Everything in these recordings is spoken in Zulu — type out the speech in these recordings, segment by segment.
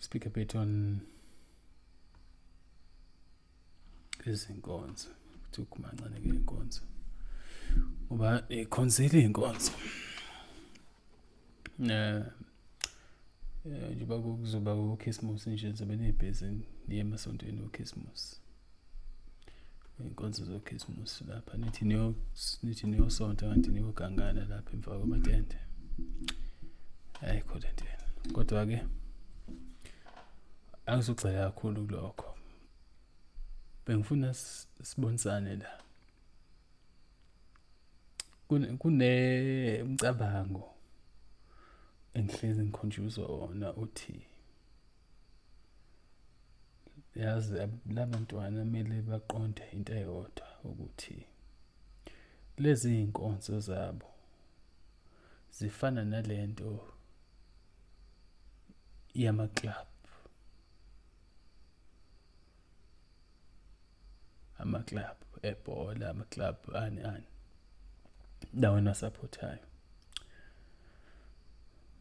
speak a bit on izinkonzo ukuthi ukumancane ke inkonzo ngoba ikhonzile inkonzo eh njengoba kuzoba ukhisimusi nje ngizobe nibhizi niye emasontweni okhisimusi iy'nkonzo zokhisimusi lapha nithi nithi niyosonta kanti niyogangana lapha emva kwamatende ayikho le nto yena kodwa-ke angizogxila kakhulu kulokho bengifuna sibonisane la kunemcabango engihlezi ngikhunjuzwa wona uthi yazi labantwana kumele baqonde into eyodwa ukuthi lezi iy'nkonzo zabo zifana nale nto yamaklabhu amaclub ebhola amaclub ani ani ndaweni asaphothayo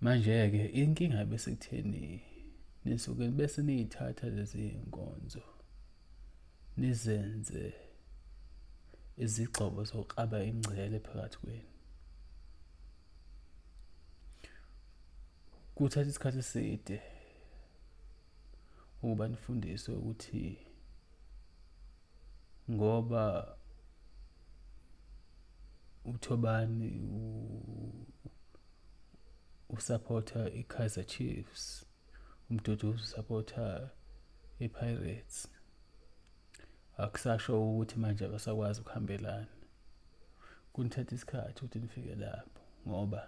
manje-ke inkinga besekutheni nisuke bese niyithatha lezi nkonzo nizenze izigxobo zokuqaba ingcele phakathi kwenu kuthatha isikhathi eside ukuba nifundiswe ukuthi ngoba uThobani usupporta iKaizer Chiefs umdudu usupporta iPirates akusasho ukuthi manje abasakwazi ukuhambelana kunithatha isikhathi ukuthi nifike lapho ngoba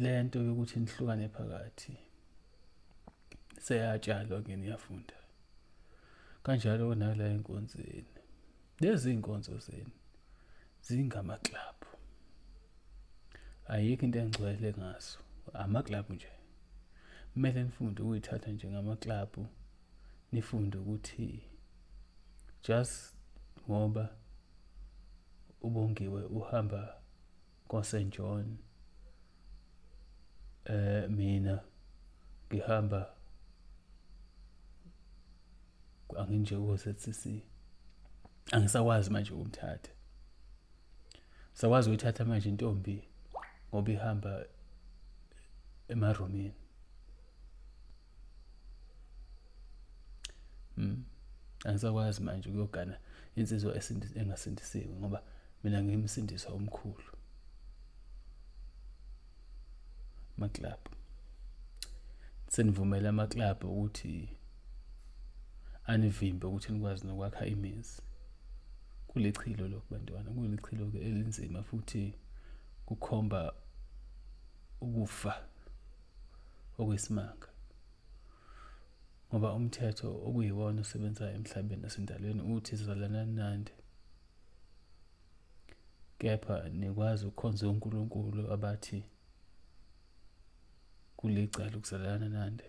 lento yokuthi nihlukane phakathi seyatshalwa ke niyafunda kanjalo nala enkonzweni lezi inkonzo zenu zingamaklabhu ayikho into engcwele ngaso amaklabhu nje kumele nifunde ukuyithatha njengamaklabhu nifunde ukuthi just ngoba uBongiwe uhamba koSt John eh mina ngihamba anginje koZCC angisakwazi manje ukumthatha sakwazi ukuthatha manje intombi ngoba ihamba emarumini Mm. Angisakwazi manje ukuyogana insizwa engasindisiwe ngoba mina ngimsindiswa omkhulu. Maklab. Senivumela amaklab ukuthi anivimbe ukuthi nikwazi nokwakha imizi. Kulichilo lokho bantwana, kulichilo ke elinzima futhi kukhomba ukufa okwesimanga ngoba umthetho okuyiwona osebenzayo emhlabeni nasendalweni uthi zalanani nande kepha nikwazi ukukhonza uNkulunkulu abathi kulicala ukuzalana nande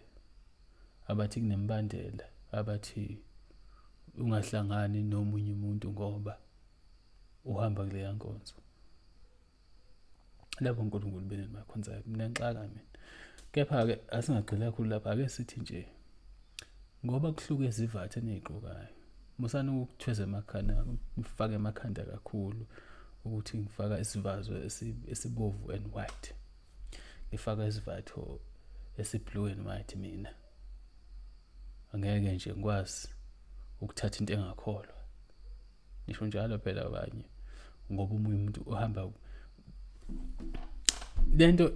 abathi kunembandela abathi ungahlangani nomunye umuntu ngoba uhamba kuleya nkonzo labo nkulunkulu benu nibakhonzayo ninenxaka mina kepha-ke asingagxili kakhulu lapho ake sithi nje ngoba kuhluke izivathe eniyigqokayo musani ukuthweza emakhanda ngifake emakhanda kakhulu ukuthi ngifaka isivazo esibovu and white ngifaka isivatho esiblue and white mina angeke nje ngikwazi ukuthatha into engakholwa ngisho njalo phela abanye ngoba umunye umuntu uhamba lento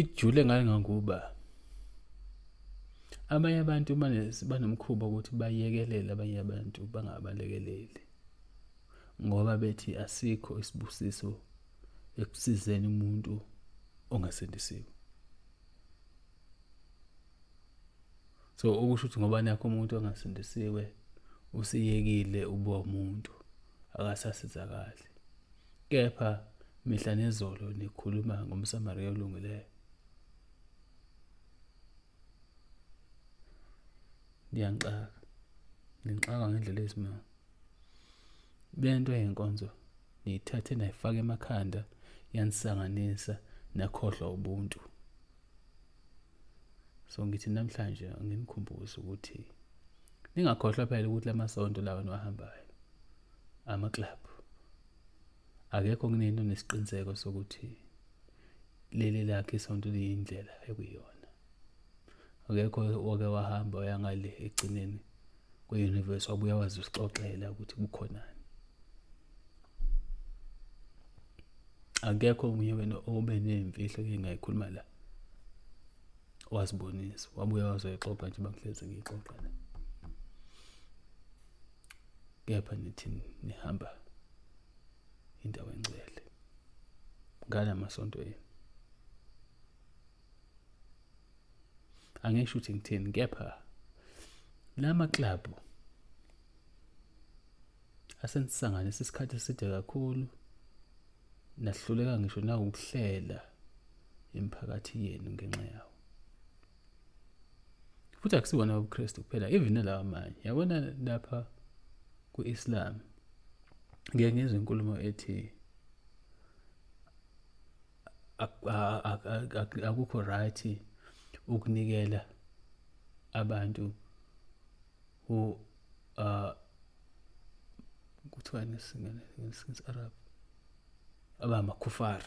ijule ngangangokuba abanye abantu banomkhuba ukuthi bayekelele abanye abantu bangabalekeleli ngoba bethi asikho isibusiso ekusizeni umuntu ongasindisiwe so okusho ukuthi ngoba nakho umuntu ongasindisiwe usiyekile uba umuntu akasasizakali kepha mihla nezolo nikhuluma ngomsamariya olungileyo ngiyangixaka ngixaka ngendlela eyisimanga lento yenkonzo niyithathe nayifaka emakhanda yanisanganisa nakhohlwa ubuntu so ngithi namhlanje nginikhumbuze ukuthi ningakhohlwa phela ukuthi la masonto lawa niwahambayo ama-club akekho kunini onesiqiniseko sokuthi leli lakhe isonto liyindlela ekuyona akekho wake wahamba wayangale egcineni kwe-universe wabuya wazi usixoxela ukuthi kukhonani akekho omunye wena obe nemfihlo engingayikhuluma la wazibonisa wabuya wazoyixoxa nje bangihlezi ngiyixoxa la kepha nithi nihamba indawo engcwele ngalamasonto yenu angisho ukuthi ngithini kepha lama club asenisanganisa isikhathi eside kakhulu nahluleka ngisho nawukuhlela imiphakathi yenu ngenxa yawo futhi akusiwona ubuKristu kuphela even lawa amanye yabona lapha ku-Islam ngeke ngizwe inkulumo ethi akukho right ukunikela abantu who uh kuthiwa nesingene ngesince arab abamakhufar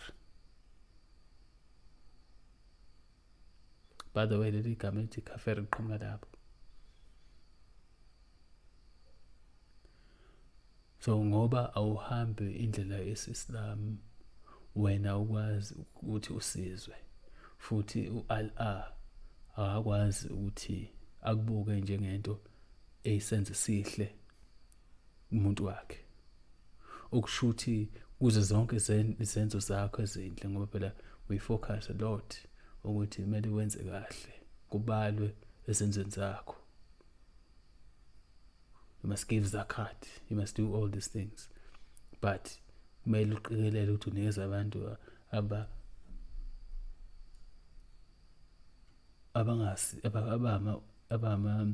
by the way leli gama elithi kafir liqhamuka lapho so ngoba awuhambi indlela yesislam wena ukwazi ukuthi usizwe futhi u-Allah akakwazi ukuthi akubuke njengento eyisenze sihle umuntu wakhe okushuthi kuze zonke izenzo zakho ezinhle ngoba phela we focus a lot ukuthi kumele wenze kahle kubalwe ezenzweni zakho you must give zakat you must do all these things but kumele uqikelele ukuthi unikeza abantu aba abangasi abama abama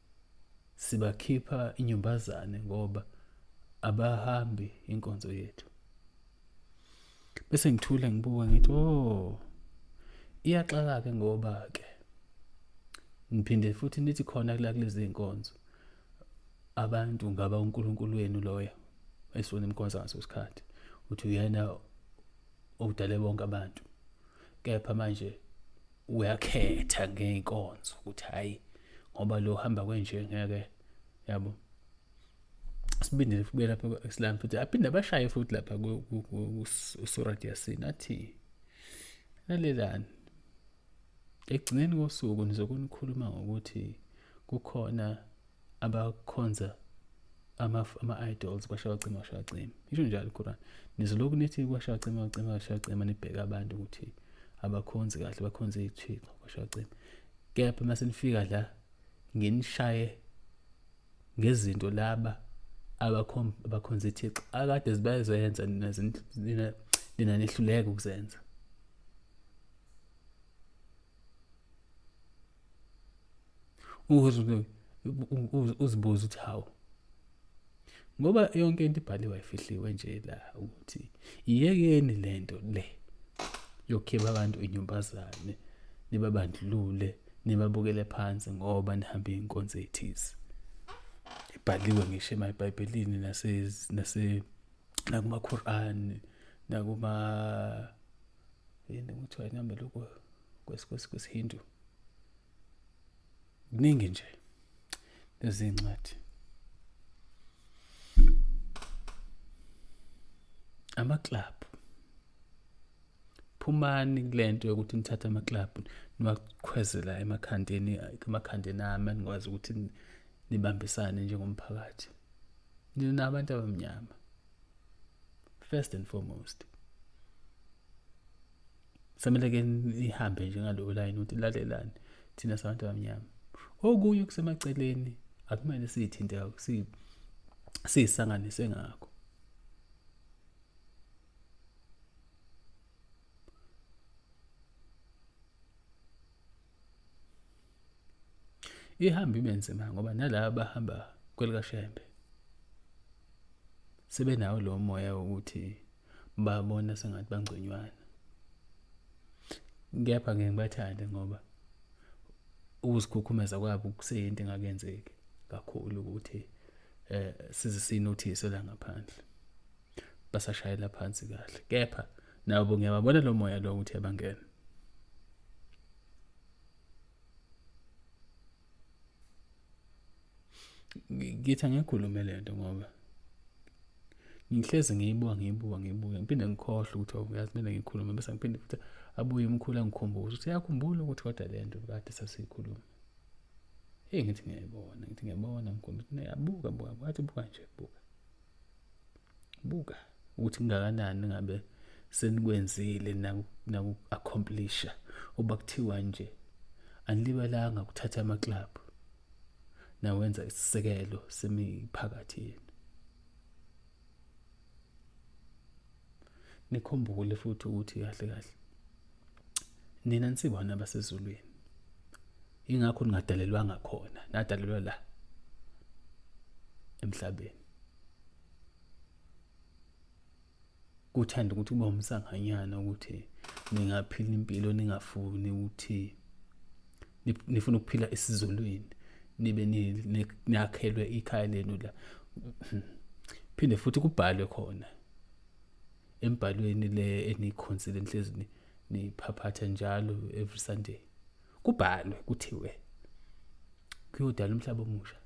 sibakhipha inyumbazane ngoba abahambi inkonzo yethu bese ngithule ngibuka ngithi oh iyaxaka ke ngoba ke ngiphinde futhi nithi khona kula kulezi nkonzo abantu ngaba uNkulunkulu wenu loya esifuna imkonzo ngaso sikhathi uthi uyena odale bonke abantu kepha manje uyakhetha ngey'nkonzo ukuthi hhayi ngoba lo hamba kwenje ngeke yabo sibindele fube lapha ku-islam futhi aphinde abashaye futhi lapha usurat yasin athi lalelani ekugcineni kosuku nizokunikhuluma ngokuthi kukhona abakhonza ama-idols kwashaya cima kwashaya cima isho njalo iquran nizolokhu nithi kwashaya cima cima kwashaya cima nibheke abantu ukuthi abakhonzi kahle bakhonze iy'thixo kwashaya cima kepha uma senifika la nginishaye ngezinto laba abakhonza ithixo akade zibayezoyenza nina nehluleka ukuzenza uzibuza ukuthi hawu ngoba yonke into ibhaliwe ifihliwe nje la ukuthi iyekeni lento le yokukhipha abantu inyumbazane nibabandlulule nibabukele phansi ngoba nihambe inkonzo ethize ibhaliwe ngisho emayibhayibhelini nase nase nakuma Quran nakuma yini kuthiwa inamba lokho kwesihindu kuningi nje lezi ncwadi amaclub phumani kulento yokuthi nithathe amaclub niwakhwezela emakhandeni emakhandeni ami nikwazi ukuthi nibambisane njengomphakathi nina abantu abamnyama first and foremost samele ke nihambe njengalowo layini ukuthi lalelani thina sabantu abamnyama okunye okusemaceleni akumele siyithinte siyisanganise ngakho ihambe ibe nzima ngoba nalaba bahamba kwelikashembe sebenawo lo moya wokuthi babona sengathi bangconywana kepha ngeke ngibathande ngoba ukuzikhukhumeza kwabo kuseyinto engakenzeki kakhulu ukuthi eh size sinothise la ngaphandle basashayela phansi kahle kepha nabo ngiyababona lo moya lo ukuthi yabangena ngithi angikhulume le nto ngoba ngihlezi ngiyibuka ngiyibuka ngiyibuka ngiphinde ngikhohlwe ukuthi oh, uyazi kumele ngikhulume bese ngiphinde futhi abuye umkhulu angikhumbuze ukuthi uyakhumbula ukuthi kodwa le nto kade sasiyikhuluma eyi ngithi ngiyayibona ngithi ngiyabona mkhulu yabuka buka wathi buka nje buka buka ukuthi kungakanani ngabe senikwenzile naku-accomplisha uba kuthiwa nje anilibalanga kuthatha amaklabhu nawenza isisekelo semiphakathi yenu nikhumbule futhi ukuthi kahle kahle nina nisibona abasezulwini ingakho ningadalelwanga khona nadalelwa la emhlabeni kuthanda ukuthi kube umsanganyana ukuthi ningaphila impilo ningafuni ukuthi nifuna ukuphila esizulwini nibe niyakhelwe ikhaya lenu la phinde futhi kubhalwe khona embhalweni le enikhonsile nihlezi niphaphatha njalo every sunday kubhalwe kuthiwe kuyodala umhlaba omusha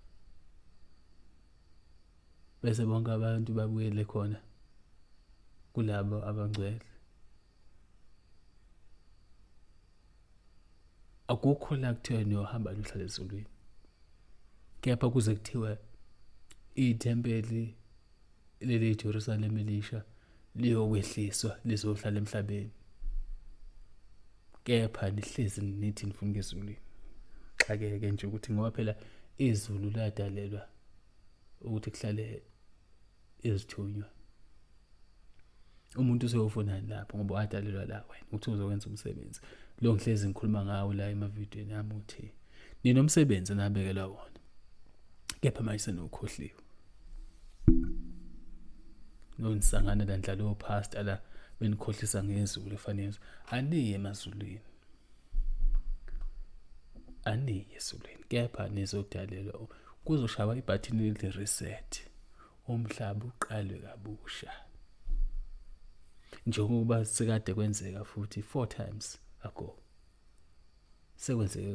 bese bonke abantu babuyele khona kulabo abangcwele akukho la kuthiwa niyohamba niyohlala ezulwini kepha kuze kuthiwe ithempeli leli iJerusalem elisha liyokwehliswa lizohlala emhlabeni kepha nihlezi nithi nifuna ezulwini xakeke nje ukuthi ngoba phela izulu ladalelwa ukuthi kuhlale izithunywa umuntu useyofunani lapho ngoba wadalelwa la wena ukuthi uzokwenza umsebenzi lo ngihlezi ngikhuluma ngawo la emavidiyweni yami uthi ninomsebenzi nabekelwa wona kepha manje senokhohliwe nonisangana la ndlalo pastor la benikhohlisa ngezulu efanele aniye emazulwini aniyi esulwini kepha nizodalelwa kuzoshaywa ibhathini elithi reset umhlaba uqalwe kabusha njengokuba sekade kwenzeka futhi four times ago sekwenzeke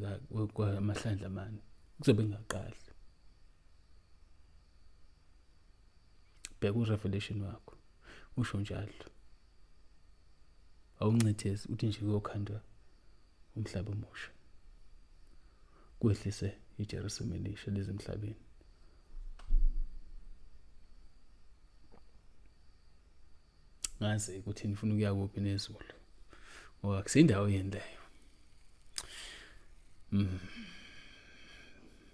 kwamahlandla amane kuzobe ngaqali bheka urevelation wakho usho njalo awuncithezi uthi nje kuyokhandwa umhlaba omusha kwehlise iJerusalema elisha lezimhlabeni ngazi ukuthi nifuna ukuya kuphi nezulu ngoba kusindawo yendayo mm.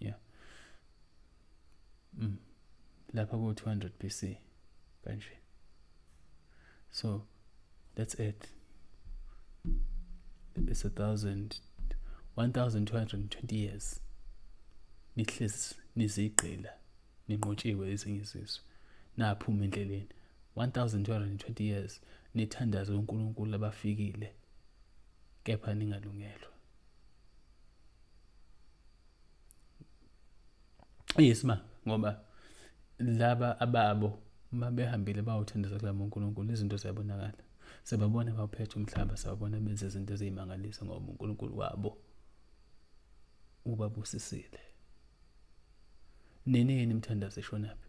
yeah mm. lapha ku 200 BC kanje so let's add it's a thousand 1220 years nihlezi nizigqila ninqotshiwe ezinye izizwe naphuma endleleni 1220 years nithandaze uNkulunkulu abafikile kepha ningalungelwa Yes ma ngoba laba ababo uma behambile bawuthandisa kula uNkulunkulu izinto ziyabonakala sebabona bawuphethe umhlaba sawubona benze izinto eziyimangalisa ngoba uNkulunkulu wabo ubabusisile nini yini imthandazo eshonaphi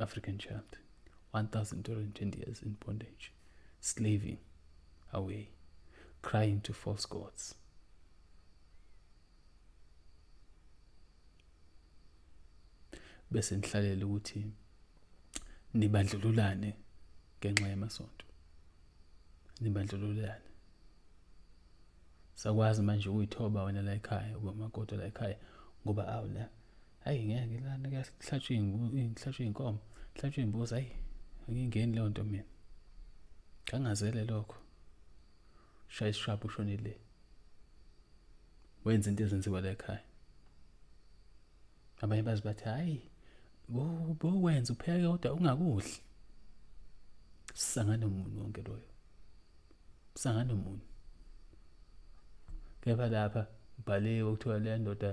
African child. 1,220 years in bondage, slaving away, crying to false gods. bese nihlalela ukuthi nibandlululane ngenxa yamasonto nibandlululane sakwazi manje ukuyithoba wena la ekhaya uba makoti la ekhaya ngoba awula hayi ngeke lana kuhlatshwe ngihlatshwe inkomo kuhlatshwe imbuzi hayi angingeni leyo nto mina ngangazele lokho shaya isishwapha ushonile wenza into ezenziwa la ekhaya abanye bazi bathi hayi bokwenza upheke kodwa ungakudli sisangane umuntu wonke loyo sisangane umuntu kepha lapha ubhaliwe kuthiwa le ndoda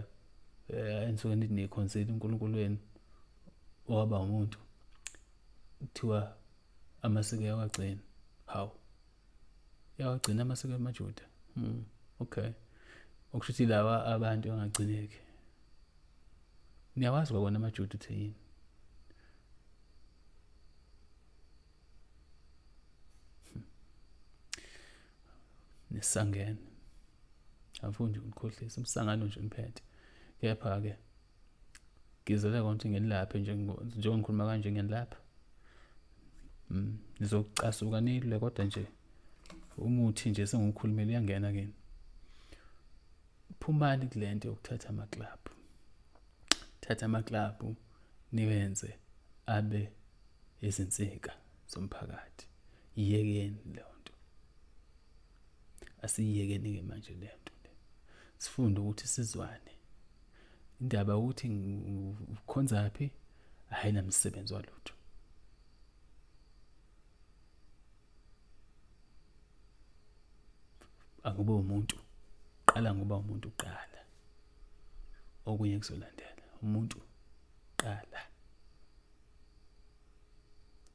eh, enisuke nithi niyikhonseli uNkulunkulu wenu owaba umuntu kuthiwa amasiko yawagcina hawu yawagcina amasiko amaJuda mm, okay okusho ukuthi lawa abantu angagcineki niyawazi kwakona amaJuda uthi yini Hmm. Nesangene. Angifuni nje ukukhohlisa umsangano nje ngiphethe. Kepha ke ngizele konke ngelaphe nje njengoba ngikhuluma kanje ngelapha. Mm. Nizocasuka nilwe kodwa nje umuthi nje sengiwukhulumela uyangena kini. phumani kule nto yokuthatha amaklabhu thatha amaklabhu niwenze abe izinsika zomphakathi yiyekeni leyo nto asiyiyekeni-ke manje le nto le sifunde ukuthi sizwane indaba ukuthi ukhonza phi hhayi namsebenzi walutho angube umuntu qala ngoba umuntu uqala okunye kuzolandela umuntu qala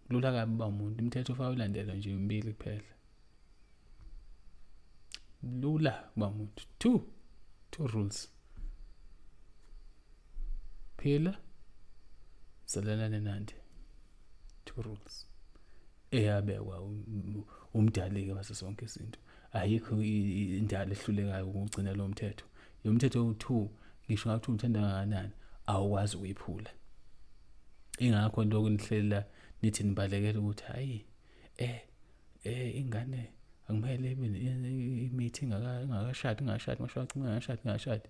kulula kabi uba umuntu umthetho ufaka ulandelwa nje umbili kuphela lula uba umuntu two two rules phila zalalane nandi two rules eyabekwa umdaleke base sonke izinto ayikho indalo ehlulekayo ukugcina lo mthetho yomthetho u2 ngisho ngathi umthanda kangakanani awukwazi ukuyiphula ingakho lokho nihlela nithi nibalekela ukuthi hayi eh eh ingane angimele imithi ingakashadi ingashadi ngisho acima ingashadi ingashadi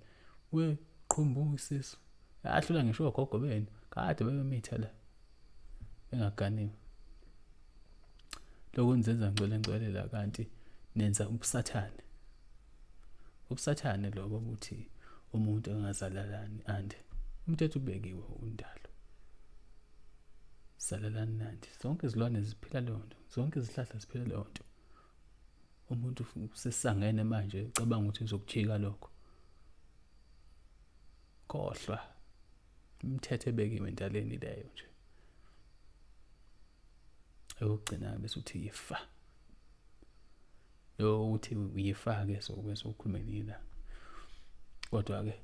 we qhumbu isisu ahlula ngisho ogogo benu kade bebemitha la engaganiwe lokho nizenza ngcwele ngcwele la kanti nenza ubusathane ubusathane lobo ukuthi umuntu engazalalani and umthetho ubekiwe undalo zalalani nanti zonke izilwane ziphila leyo nto zonke izihlahla ziphila leyo nto umuntu usesangene manje ucabanga ukuthi uzokujika lokho khohlwa imithetho ebekiwe endaleni leyo nje eyokugcina bese uthi yifa ukuthi uyifake so bese ukhulume nina kodwa-ke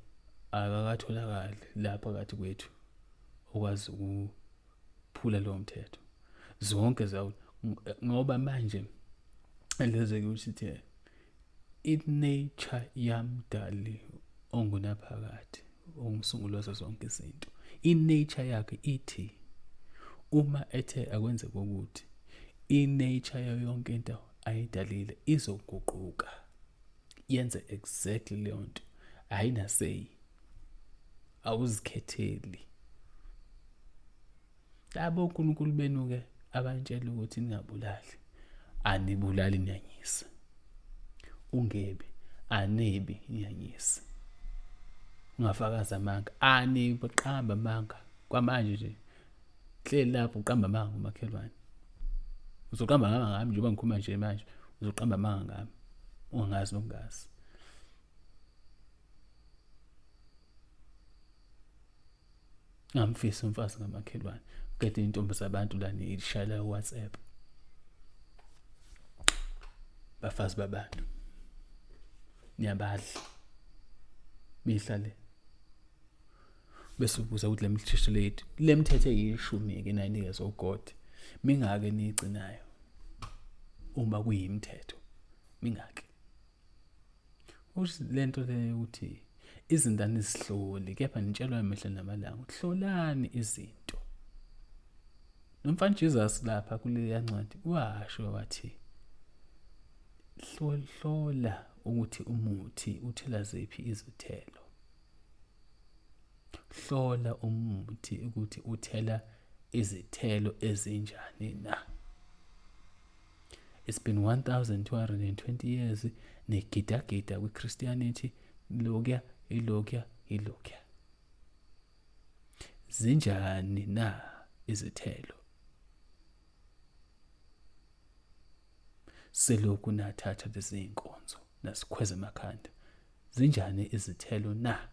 akakatholakali la phakathi kwethu okwazi ukuphula lowo mthetho zonke zawo ngoba manje leze kusithe inature yamdali ongunaphakade ongusunguli wazo zonke izinto inature yakhe ithi uma ethe akwenze kokuthi inature yayo yonke into ayidalile izoguquka yenze exactly leyo nto ayinaseyi awuzikhetheli labo uNkulunkulu benuke abantshela ukuthi ningabulali anibulali nyanyisa ungebi anebi nyanyisa ungafakaza amanga aniqamba amanga kwamanje nje hleli lapho uqamba amanga umakhelwane uzoqamba ngama ngami njengoba ngikhuluma nje manje uzoqamba amanga ngami ungazi nokungazi ngamfisa umfazi ngamakhelwane qede intombi zabantu la nishayela WhatsApp bafazi babantu niyabadla mihla le bese ubuza ukuthi lemithetho lethu lemithetho eyishumi ke nayinikezwe uGod mingake nigcinayo uma kuyimithetho mingake uthi lento le ukuthi izingane zihloli kepha nitshelwa emehla namalanga ukuthi hlolani izinto nomfana Jesus lapha kuleya ncwadi washo wathi hlola ukuthi umuthi uthela ziphi izithelo Hlola umuthi ukuthi uthela izithelo ezinjani na. It's been 1220 years negidagida kwiChristianity lokya ilokya ilokya. Zinjani na izithelo? Selokhu nathatha lezi zinkonzo nasikhweza emakhanda Zinjani izithelo na?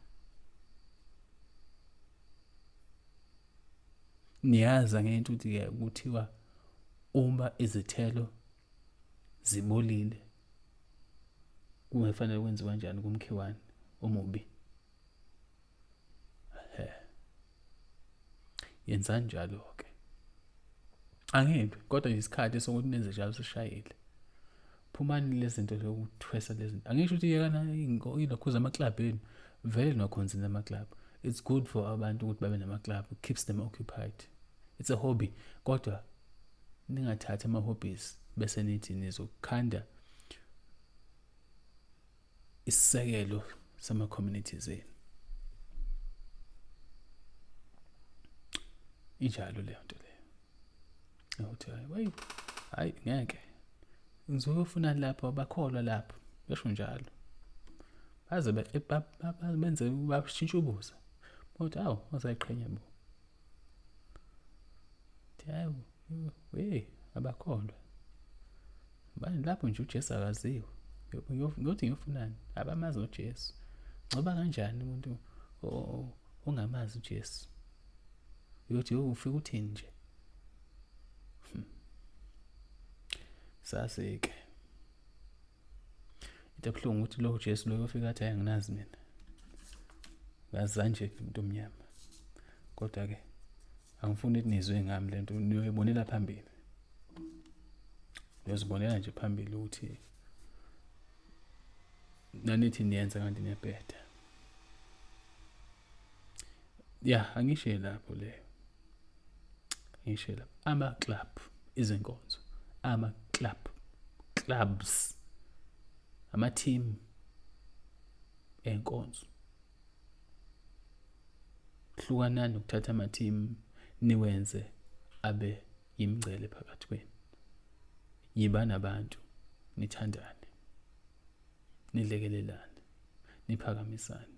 Niyazi angento ukuthi-ke kuthiwa uma izithelo zibolile kungefanele kwenziwa njani kumkhiwane omubi. yenzani njalo-ke angimbi kodwa yisikhathi sokuthi nenze njalo sishayile phumani lezinto zokuthwesa lezinto angisho ukuthi yekana inokhuza amaklabhu enu vele nokhonzini amaklabhu it's good for abantu ukuthi babe namaklabhu keeps them occupied it's a hobby kodwa ningathathi ama-hobbies bese nithi nizokhanda isisekelo sama communities enu injalo leyo nto leyo ukuthi hayi wayi hayi ngeke ngizoke ufuna lapho bakholwa lapho besho njalo baze benze bashintshe ubuza kodwa awu wazayiqhenya bo hayi we abakholwa Bani lapho nje uJesu akaziwe. Ngothi ngiyofunani? Abamazi uJesu. Ngoba kanjani umuntu ongamazi uJesu? Uyothi ufika uthini nje? Hmm. Sasike. Into ebuhlungu ukuthi lo Jesu lo yofika athi anginazi mina. Ngazanje umuntu omnyama. Kodwa ke angifuni ukuthi nizwe ngami lento niyoyibonela phambili. uyozibonela nje phambili ukuthi nanithi niyenza kanti niyabheda ya angishe lapho leyo angishe lapho ama-club izinkonzo ama-club clubs ama-team enkonzo hlukanani ukuthatha ama-team niwenze abe Yimngcele phakathi kwenu. Yiba nabantu, nithandane, nilekelelane, niphakamisane,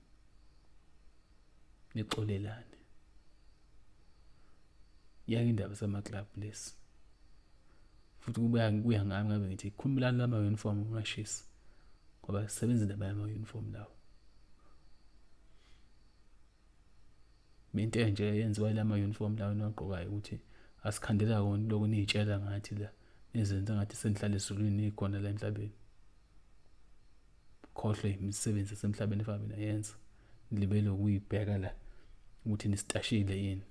nixolelane. Yake indaba sama-club lesi. Futhi kubuya kuya ngami ngabe ngithi khumulani lama uniform ungashisi. Ngoba sebenza indaba yama uniform lawo. into enje eyenziwa ila ma-uniform lawo enagqokayo ukuthi asikhandela kona lokhu niyitshela ngathi la nizenza ngathi senihlala ezulwini nikhona la emhlabeni khohlwe imisebenzi esemhlabeni efana mina yenza nilibele ukuyibheka la ukuthi nisitashile yini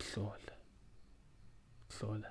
hlola hlola